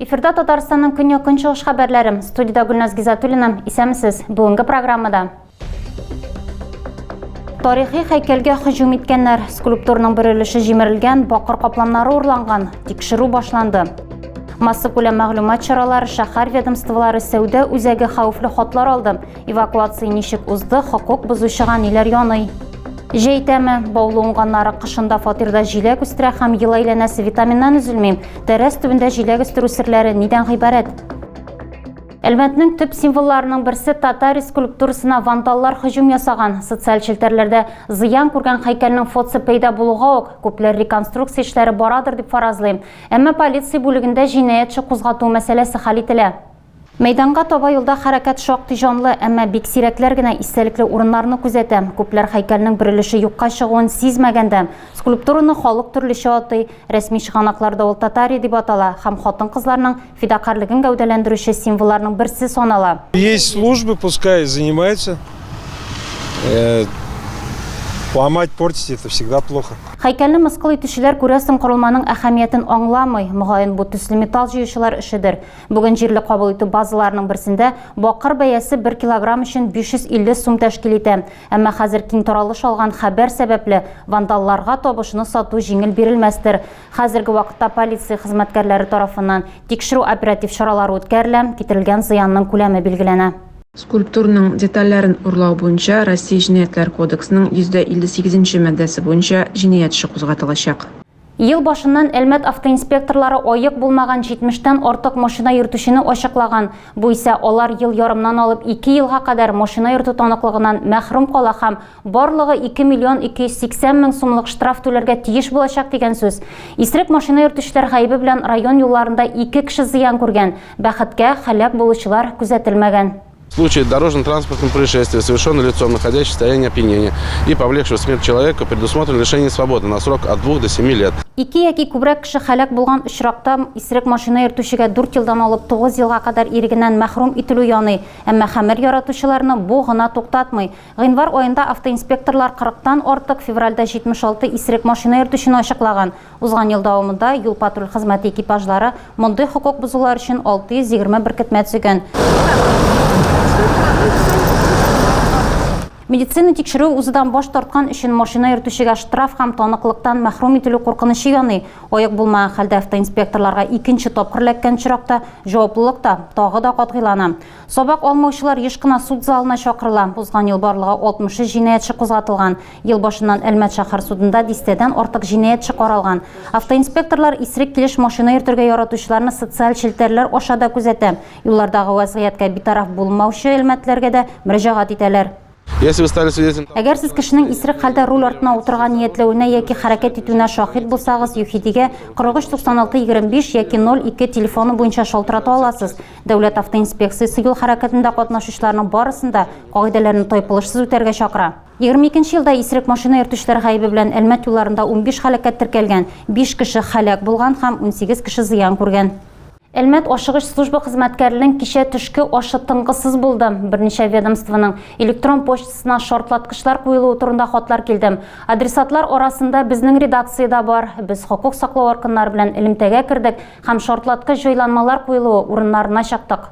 Эфирда Татарстанның көньяк-көнчыгыш хәбәрләре. Студиядә Гөлназ Гизатуллина. Исәмсез. Бүгенге программада Тарихи хәйкәлгә һөҗүм иткәннәр, скульптурның бер өлеше җимерелгән, бакыр капланнары урланган, тикшерү башланды. Массакүләм мәгълүмат чаралары шәһәр ведомстволары сәүдә үзәге хәвефле хатлар алды. Эвакуация ничек узды, хокук бозучыга ниләр яный? Җәй тәме, баулы уңганнары кышында фатирда җиләк үстерә һәм ел әйләнәсе витаминнан өзелми. Тәрәз төбендә җиләк үстерү серләре нидән гыйбарәт? Әлмәтнең төп символларының берсе татар скульптурасына вандаллар һөҗүм ясаган. Социаль челтәрләрдә зыян күргән һәйкәлнең фотосы пәйда булуга ук, күпләр реконструкция эшләре барадыр дип фаразлый. Әмма полиция бүлегендә җинаять эше кузгату мәсьәләсе хәл ителә. Мәйданга таба юлда хәрәкәт шактый җанлы, әмма бик сирәкләр генә истәлекле урыннарны күзәтә. Күпләр һәйкәлнең бер өлеше юкка чыгуын сизмәгән дә. Скульптураны халык төрлечә атый. Рәсми чыганакларда ул татари дип атала һәм хатын-кызларның Фидакарлыгын гәүдәләндерүче символларның берсе санала. Есть службы, пускай занимаются. Э, ломать, портить это всегда плохо. Хәйкәлне мыскыл итүчеләр күрәсең корылманың әһәмиятен аңламый. Мөгаен бу төсле металл җыючылар эшедер. Бүген җирле кабул итү базаларының берсендә бакыр бәясе 1 килограмм өчен 550 сум тәшкил итә. Әмма хәзер киң таралыш алган хәбәр сәбәпле вандалларга табышны сату җиңел бирелмәстер. Хәзерге вакытта полиция хезмәткәрләре тарафыннан тикшерү-оператив чаралары үткәрелә, китерелгән зыянның күләме билгеләнә. Скульптурның детальләрен урлау буенча Россия Җинаятьләр кодексының 158 нче маддәсе буенча җинаять эше кузгатылачак. Ел башыннан Әлмәт автоинспекторлары аек булмаган 70 тән артык машина йөртүчене ачыклаган, бу исә алар ел ярымнан алып ике елга кадәр машина йөртү таныклыгыннан мәхрүм кала һәм Барлыгы 2 миллион 280 мең сумлык штраф түләргә тиеш булачак дигән сүз. Исерек машина йөртүчеләр гаебе белән район юлларында ике кеше зыян күргән, бәхеткә, һәлак булучылар күзәтелмәгән. Случай дорожно-транспортного происшествия, совершенный лицом, находящимся в состоянии опьянения и повлекшего смерть человека, предусмотрено лишение свободы на срок от двух до семи лет. Ике яки күбрәк кеше һәлак булган очракта, исерек машина йөртүчегә дүрт елдан алып тугыз елга кадәр ирегеннән мәхрүм ителү яный, әмма хәмер яратучыларны бу гына туктатмый. Гыйнвар аенда автоинспекторлар 40 тан артык, февральдә 76 исерек машина йөртүчене ачыклаган. Узган ел дәвамында юл-патруль хезмәте экипажлары мондый хокук бозулар өчен 620 беркетмә төзегән. Медицина тикшерүе узудан баш тарткан өчен машина йөртүчегә штраф һәм таныклыктан мәхрүм ителү куркынычы яный. Аек булмаган хәлдә автоинспекторларга икенче тапкыр эләккән очракта җаваплылык та тагы да катгыйлана. Сабак алмаучылар еш кына суд залына чакырыла. Узган ел барлыгы 63 җинаятьче кузгатылган. Ел башыннан Әлмәт шәһәр судында дистәдән артык җинаятьче каралган. Автоинспекторлар исерек килеш машина йөртергә яратучыларны социаль челтәрләр аша да күзәтә. Юллардагы вәзгыятькә битараф булмаучы әлмәтлеләргә дә мөрәҗәгать итәләр. Если вы стали свидетелем... Әгәр сез кешенең исерек хәлдә руль артына утырырга ниятләвенә яки хәрәкәт итүенә шаһит булсагыз, ЮХИДИгә 439625 яки 02 телефоны буенча шалтырата аласыз. Дәүләт автоинспекциясе юл хәрәкәтендә катнашучыларның барысын да кагыйдәләрне тайпылышсыз үтәргә чакыра. 22 елда исерек машина йөртүчеләр гаебе белән Әлмәт юлларында 15 һәлакәт теркәлгән, 5 кеше һәлак булган һәм 18 кеше зыян күргән. Әлмәт ашыгыч служба хезмәткәренең кичә төшке ашы тынгысыз булды. Берничә ведомствоның электрон почтасына шартлаткычлар куелуы турында хатлар килде. Адресатлар арасында безнең редакция дә бар. Без хокук саклау органнары белән элемтәгә кердек һәм шартлаткыч җайланмалар куелуы урыннарына чыктык.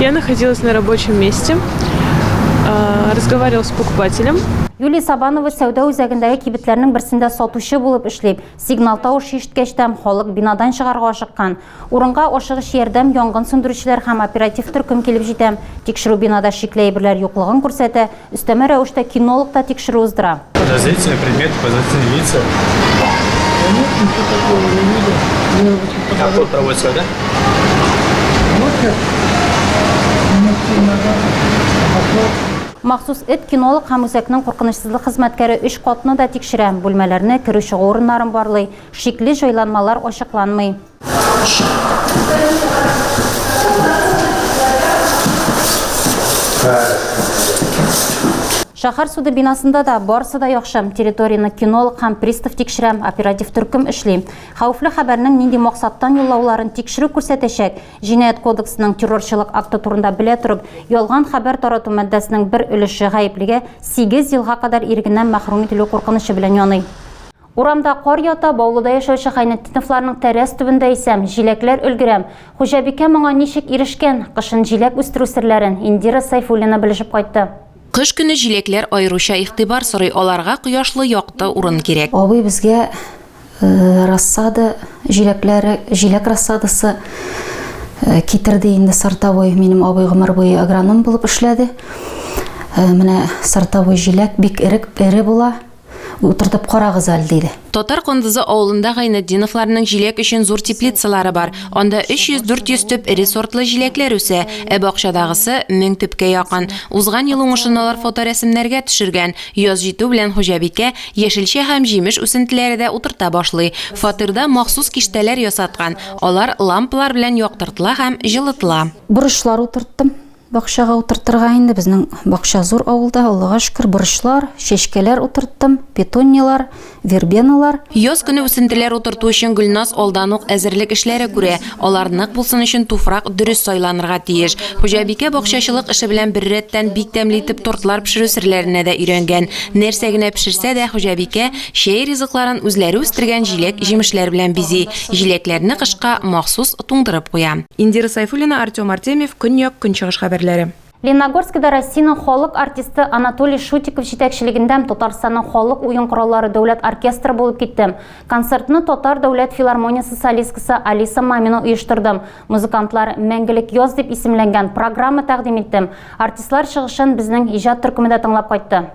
Я находилась на рабочем месте, разговаривала с покупателем. Юлия Сабанова сәүдә үзәгендәге кибетләрнең берсендә сатучы булып эшли. Сигнал тавыш ишеткәчтән халык бинадан чыгарга ашыккан. Урынга ашыгыч ярдәм, янгын сүндерүчеләр һәм оператив төркем килеп җитә. Тикшерү бинада шикле әйберләр юклыгын күрсәтә, Өстәмә рәвештә кинолог та тикшерү уздыра. Подозрительный предмет, подозрительные лица. Конечно, ничего такого не видел. Мне очень А кто показалось. проводит сюда? Вот как минут семь назад пошел. Махсус эт кинолог һәм үзәкнең куркынычсызлык хезмәткәре өч катны да тикшерә, бүлмәләрне, керү-чыгу урыннарын барлый. Шикле җайланмалар ачыкланмый. Шәһәр суды бинасында да барысы да яхшы. Территорияне кинолог һәм пристав тикшерә, оператив төркем эшли. Хәвефле хәбәрнең нинди максаттан юллауларын тикшерү күрсәтәчәк. Җинаять кодексының террорчылык акты турында белә торып, ялган хәбәр тарату маддәсенең бер өлеше гаеплегә сигез елга кадәр ирегеннән мәхрүм ителү куркынычы белән яный. Урамда кар ята, Баулыда яшәүче Гайнетдиновларның тәрәз төбендә исә җиләкләр өлгерәм. Хуҗабикә моңа ничек ирешкән? Кышын җиләк үстерү серләрен Индира Сәйфуллина белешеп кайтты. Кыш көне җиләкләр аеруча игътибар сорый, аларга кояшлы, якты урын кирәк. Абый безгә рассада җиләкләре, җиләк рассадасы китерде инде. Сортовой, минем абый гомер буе агроном булып эшләде. Менә сортовой җиләк бик эре була. Утыртып карагыз әле, диде. Татар Кондызы авылында Гайнетдиновларның җиләк өчен зур теплицалары бар. Анда 300-400 төп эре сортлы җиләкләр үсә, ә бакчадагысы, мең төпкә якын. Узган ел уңышын алар фоторәсемнәргә төшергән. Яз җитү белән хуҗабикә яшелчә һәм җимеш үсентеләре дә утырта башлый. Фатирда махсус киштәләр ясаткан, алар лампалар белән яктыртыла һәм җылытыла. Борычлар утырттым. Бакчага утыртырга инде, безнең бакча зур авылда, Аллага шөкер, борычлар, чәчкәләр утырттым, петуниялар, вербеналар. Яз көне үсентеләр утырту өчен Гөлназ алдан ук әзерлек эшләре күрә. Алар нык булсын өчен туфрак дөрес сайланырга тиеш. Хуҗабикә бакчачылык эше белән беррәттән бик тәмле итеп тортлар пешерү серләренә дә өйрәнгән. Нәрсә генә пешерсә дә, хуҗабикә, Чәй ризыкларын үзләре үстергән җиләк-җимешләр белән бизи, җиләкләрне кышка махсус туңдырып куя. Индира Сайфуллина, Артем Артемьев, Көньяк-Көнчыгыш хәбәрләре. Ленногорскида Россиянең халык артисты Анатолий Шутиков җитәкчелегендәм Татарстанның халык уен кораллары дәүләт оркестры булып киттем. Концертны Татар дәүләт филармониясе солисткасы Алиса Мамина оештырдым. Музыкантлар Мәңгелек яз дип исемләнгән программа тәкъдим иттем. Артистлар чыгышын безнең иҗат төркеме дә тыңлап кайтты.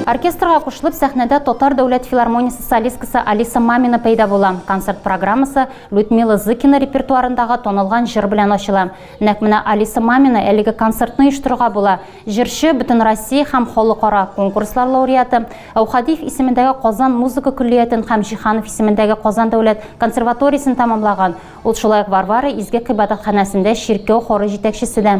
Оркестрга кушылып сәхнәдә Татар дәүләт филармониясе солисткасы Алиса Мамина пәйда була. Концерт программасы Людмила Зыкина репертуарындагы танылган җыр белән ачыла. Нәкъ менә Алиса Мамина әлеге концертны оештырырга була. Җырчы, Бөтенроссия һәм халыкара конкурслар лауреаты, Әүхадиев исемендәге Казан музыка көллиятен һәм Җиһанов исемендәге Казан дәүләт консерваториясен тәмамлаган. Ул шулай ук Варвара изге гыйбадәтханәсендә чиркәү хоры җитәкчесе дә.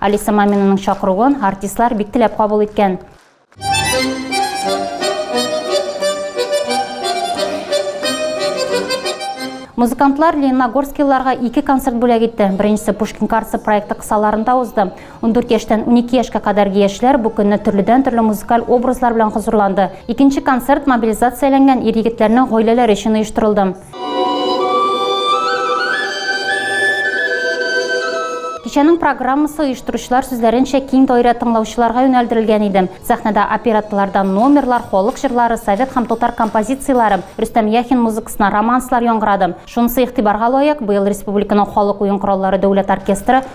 Алиса Маминаның чакыруын артистлар бик теләп кабул иткән. Музыкантлар лениногорскилыларга ике концерт бүләк итте. Беренчесе Пушкин картасы проекты кысаларында узды. Ундүрт яшьтән унике яшькә кадәрге яшьләр бу көнне төрледән-төрле музыкаль образлар белән хозурланды. Икенче концерт мобилизацияләнгән ир-егетләрнең гаиләләре өчен оештырылды. Кичәнең программасы, оештыручылар сүзләренчә, киң даирә тыңлаучыларга юнәлдерелгән иде. Сәхнәдә оперетталардан номерлар, халык җырлары, совет һәм татар композицияләре, Рөстәм Яхин музыкасына романслар яңгырады. Шунысы игътибарга лаек, быел республиканың халык уен кораллары дәүләт оркестры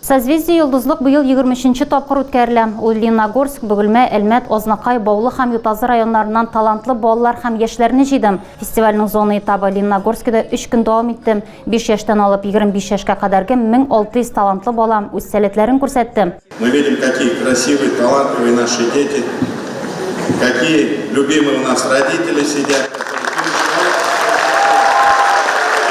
Созвездие Йолдызлык быел егерме өченче тапкыр үткәрелә. Ул Лениногорск, Бөгелмә, Әлмәт, Азнакай, Баулы һәм Ютазы районнарыннан талантлы балалар һәм яшьләрне җыйды. Фестивальнең зона этабы Лениногорскида өч көн дәвам итте. Биш яшьтән алып егерме биш яшькә кадәрге мең алты йөз талантлы бала үз сәләтләрен күрсәтте. Мы видим, какие красивые, талантливые наши дети, Какие любимые у нас родители сидят.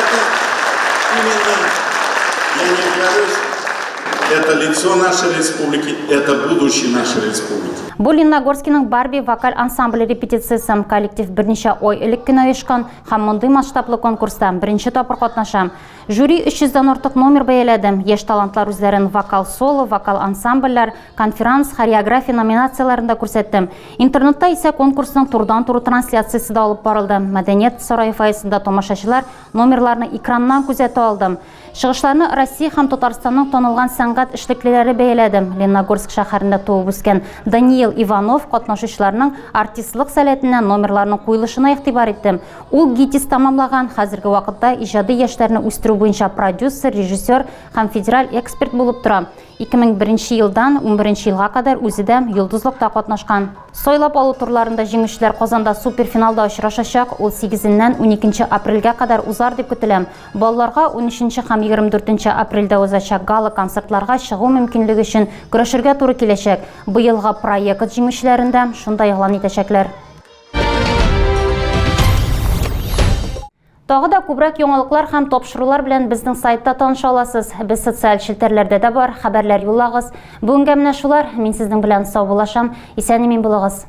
Это именно, я не говорюсь, это лицо нашей республики, это будущее нашей республики. Бу Лениногорскиның Барби вокаль ансамбле репетициясе коллектив берничә ой элек кенә оешкан һәм мондый масштаблы конкурста беренче тапкыр катнаша. Жюри 300 дан артык номер бәяләде. Яшь талантлар үзләрен вокал-соло, вокал-ансамбльләр, конферанс, хореография номинацияләрендә күрсәтте. Интернетта исә конкурсның турыдан-туры трансляциясе дә алып барылды. Мәдәният сарае фойесында тамашачылар номерларны экраннан күзәтә алды. Чыгышларны Россия һәм Татарстанның танылган сәнгать эшлеклеләре бәяләде. Ленногорск шәһәрендә туып-үскән Даниил Иванов катнашучыларның артистлык сәләтенә, номерларның куелышына игътибар итте. Ул ГИТИС тәмамлаган, хәзерге вакытта иҗади яшьләрне үстерү буенча продюсер, режиссер һәм федераль эксперт булып тора. 2001 елдан 11 елга кадәр үзе дә Йолдызлыкта катнашкан. Сайлап алу турларында җиңүчеләр Казанда суперфиналда очрашачак, ул 8-ннән 12 апрельгә кадәр узар дип көтелә. Балаларга 13 һәм 24 апрельдә узачак гала-концертларга чыгу мөмкинлеге өчен көрәшергә туры киләчәк. Быелгы проект җиңүчеләрен дә шунда игълан итәчәкләр. Тагы да күбрәк яңалыклар һәм тапшырулар белән безнең сайтта таныша аласыз. Без социаль челтәрләрдә дә бар, хәбәрләр юллагыз. Бүгенгә менә шулар. Мин сезнең белән саубуллашам. Исән имин булыгыз.